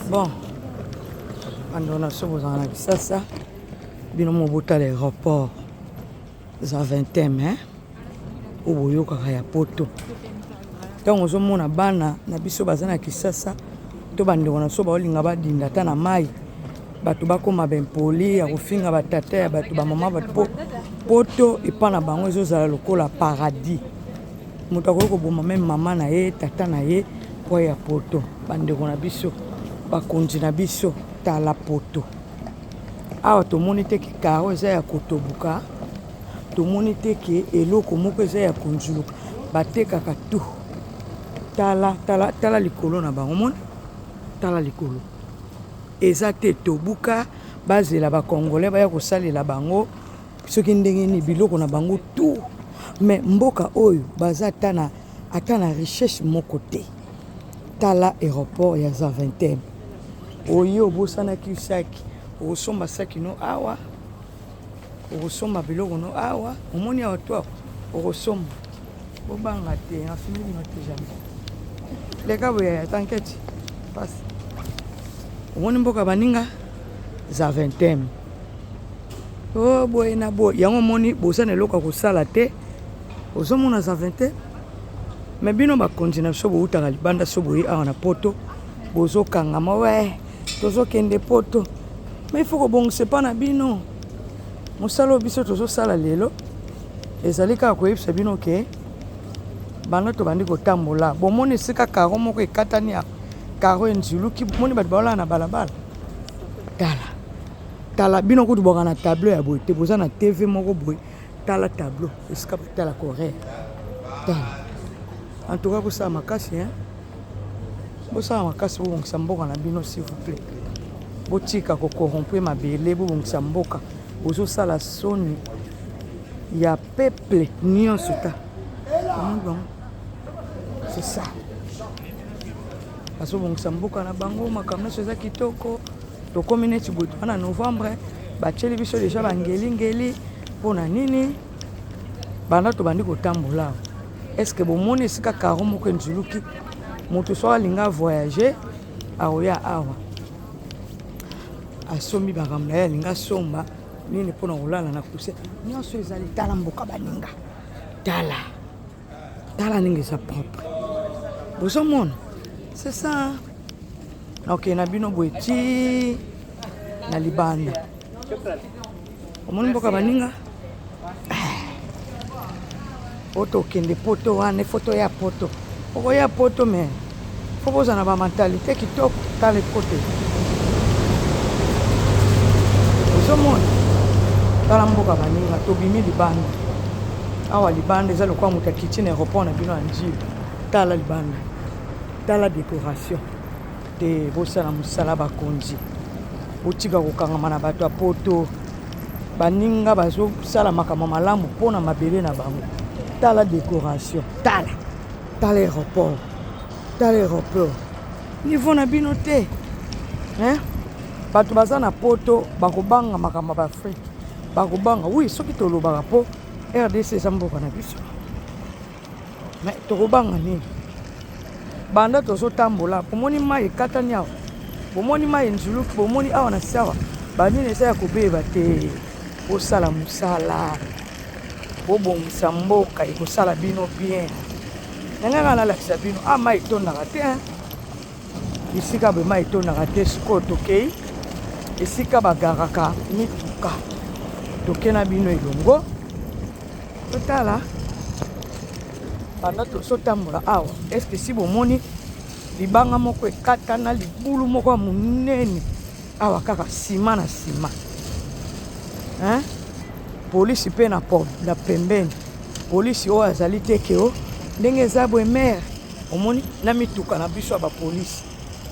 bon bandeko na biso bozala na kisasa bino mo botala aéroport eza 20 mai oyo boyokaka ya poto ntango ozomona bana na biso baza na kisasa to bandeko na biso baolinga badinda ata na mai bato bakóma baimpoli ya kofinga batata ya bato bamama bato mpo poto epai na bango ezozala lokola paradis Moto akoki koboma meme mama na ye, tata na ye mpo ya poto. Bandeko na biso, bakonzi na biso, tala poto. Awa tomoni te ke karo eza ya kotoboka, tomoni te ke eloko moko eza ya konzuluka. Batekaka tu. Tala, tala, tala likolo na bango, omoni? Tala likolo. Eza te tobuka, bazela ba congolais baya kosalela bango. soki ndenge nini biloko na bango tout mais mboka oyo baza ata na ata na richesse moko te tala aéroport ya zaventem oye obosanaki saki okosomba saki no awa okosomba biloko no awa omoni awa to okosomba bobanga te nafimi bino te jamais leka boye ata nketi pasi omoni mboka baninga zaventem Oh, boye na boye yango omoni boza na eloko ya kosala te ozomona zave te me bino bakonzi na biso boutaka libanda so boye awa na poto bozokangama we tozokende poto ma ifo kobongisa epa na bino mosala oyo biso tozosala lelo ezali kaka koyebisa bino ke banda tobandi kotambola bomoni esika karo moko ekatani ya karo enziluki bomoni bato baolala na balabala tala tala bino kutu bwaka na tableau ya boye te boza na tv moko boye tala tableau esika tala corée tala en tout cas bosala makasi hein bosala makasi bobongisa mboka na bino s'il vous plaît botika kokorrompre mabele bobongisa mboka bozosala soni ya peuple nyonso ta c'est ça bazobongisa mboka na bango makambo nyonso eza kitoko tokomi neti boye toa na novembre batyeli biso deja bangelingeli mpo na nini banda tobandi kotambola awa estce bomoni esika karo moko enzuluki moto so alinga voyage aoya awa asombi makambo na ye alinga asomba nini mpo na kolala na kuse nyonso ezali tala mboka baninga tala tala ndenge eza propre bozomona c'est ça nakokende na bino boye ti na libanda omoni mboka baninga oyo tokende poto wana efoto ya poto okoya poto me Faut bozala na ba mentalite kitoko tala ecote ozomona tala mboka baninga tobimi libanda awa libanda eza lokola moto akiti na aéroport na bino ya njili tala libanda tala décoration te bosala mosala bakonzi botika kokangama na bato ya poto baninga bazosala makambo malamu mpo na mabele na bango tala décoration tala tala aéroport tala aéroport niveau na bino te hein? bato baza na poto bakobanga makambo ya baafrike bakobanga wi soki tolobaka mpo rdc eza mboka na biso me tokobanga nini banda tozotambola bomoni mai ekatani awa bomoni mai nzuluki bomoni awa na siawa banini eza ya kobeba te osala mosala bobongisa mboka ekosala bino bien nanga nga nalakisa bino a ah, mai etondaka te bisika boye mai etondaka te sikoyo tokei esika bagaraka mituka toke na bino elongo totala banda tozotambola awa eske si bomoni libanga moko ekatana libulu moko ya monene Awa kaka sima na sima hein? polisi mpe na, na pembeni polisi oyo azali te keo ndenge eza boye mere omoni na mituka na biso ya bapolisi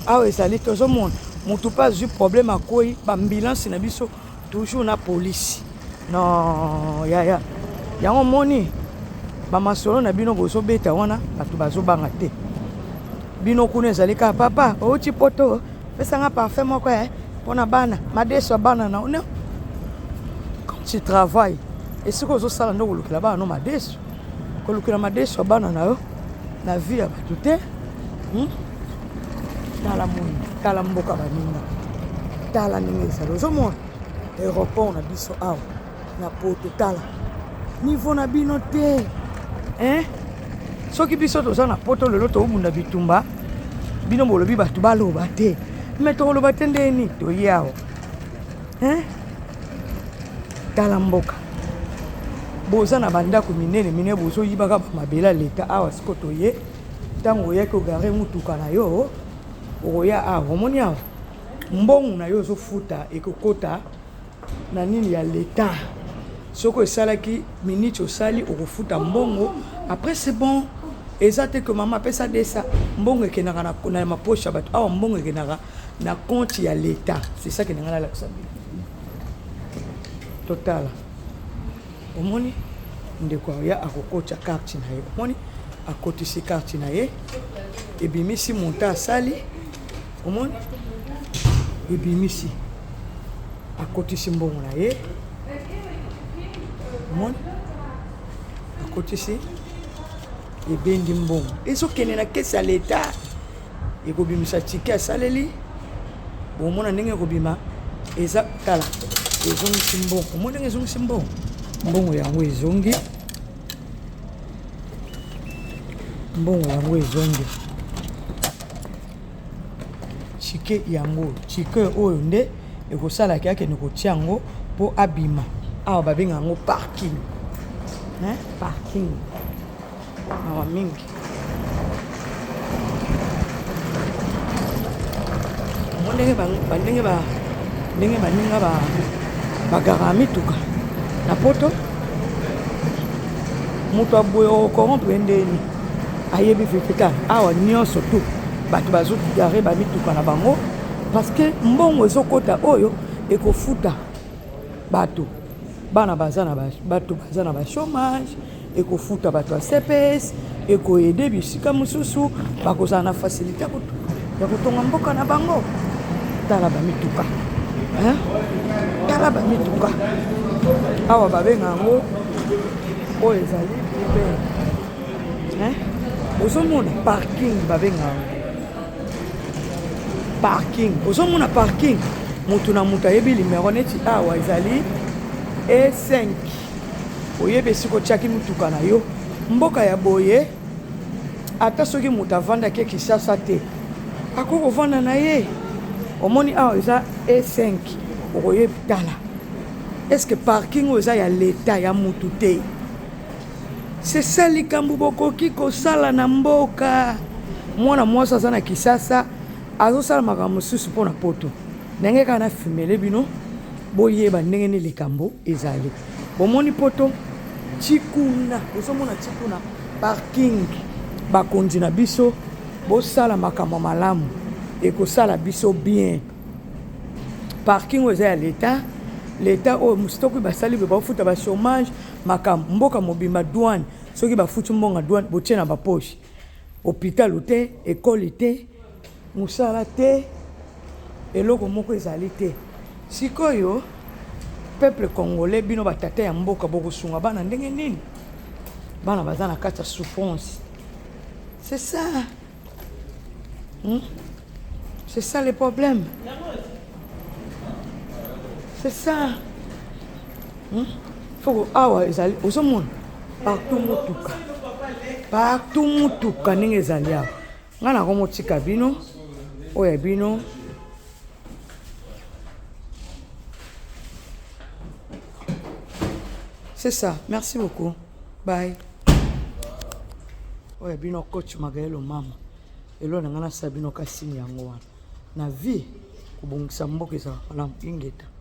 awa ezali tozomona motu mpe azwi problème akwei baambulansi na biso toujours na polisi no yaya yango omoni bamasolo na bino bozobeta wana bato bazobanga te bino kuna ezali kaka papa outi poto Pesa nga parfum moko eh pona bana madesu ya bana na ona quand tu travailles esika ozosala nde okolukela bana no madesu kolukela madesu ya bana na yo na vie ya bato te hmm? tala moi tala mboka baninga tala ndenge ezali ozomona aéroport na biso awa na poto tala niveau na bino te hein soki biso toza na poto lelo tobunda bitumba bino bolobi bato baloba te me tokoloba te nde nini toye awa hein tala mboka boza na bandako minene minene bozoyibaka mabele ya leta awa siko toye ntango oyaki ogare motuka na yo okoya awa omoni awa mbongo na yo ozofuta ekokota Na nini ya l'etat soki esalaki minute osali okofuta mbongo après c'est bon eza te que mama apesa desa mbongo ekendaka na, na maposha bato awa mbongo ekendaka na compte ya l'etat c'est ça kende ngai nalakisa bino totala omoni ndeko ya akokotya karte na ye omoni akotisi karte na ye ebimisi monta asali omoni ebimisi akotisi mbongo na ye omoni akotisi ebendi mbongo ezokende na kesi ya leta ekobimisa tike asaleli bomona ndenge ekobima eza tala ezongisi mbongo omoni ndenge ezongisi mbongo mbongo yango ezongi mbongo yango ezongi Tshike yango tshike oyo nde ekosala ke akende kotia yango po abima awa babenga yango parking hein parking mawa mingi yango ndenge bandenge ba ndenge baninga ba bagara ya mituka na poto moto aboye okorompre ndeni ayebi vivita awa nyonso tu bato bazokigare bamituka na bango parce que mbongo ezokota oyo ekofuta bato bana baza na bato baza na bachomage ekofuta bato ya cps ekoede bisika mosusu bakozala na facilité ya kotonga mboka na bango tala bamituka tala bamituka awa babenga yango oyo ezali uber ozomona parking babenga yango parking ozomona parking motu na motu ayebi limero neti awa ezali e5 oyebi esika otyaki motuka na yo mboka ya boye ata soki moto avandaki kinshasa te akoki kovanda na ye omoni awa eza e5 okoyebi tala eske parking oyo eza ya leta ya motu te sesa likambo bokoki kosala na mboka mwana mwasi aza na kisasa azosala makambo mosusu mpo na poto ndenge kaka na fimele bino boyeba ndenge nini likambo ezali Bomoni poto ti kuna, ozomona ti kuna parking. Bakonzi na biso, bosala makambo malamu, ekosala biso bien. Parking oyo eza ya leta, leta oyo mositoki basali boye baofuta ba chômage makambo mboka mobimba douane soki bafuti mbongo ya douane botie na bapoche hôpital te ekole te Mosala te, eloko moko ezali te. Sikoyo peuple congolais, bino ba tata ya mboka bokosunga bana ndenge nini? Bana baza na kati ya souffrance. C'est ça. Hmm? C'est ça le problème. C'est ça. Hmm? Faut awa ezali ozomona partout motuka. Partout motuka ndenge ezali awa. Nga na komo tika bino oya bino C'est ça. Merci beaucoup. Bye. oyo bino coach magaelo mama elo na ngai nasala bino kasini yango wana na vie kobongisa mboka ezalaka malamu ingeta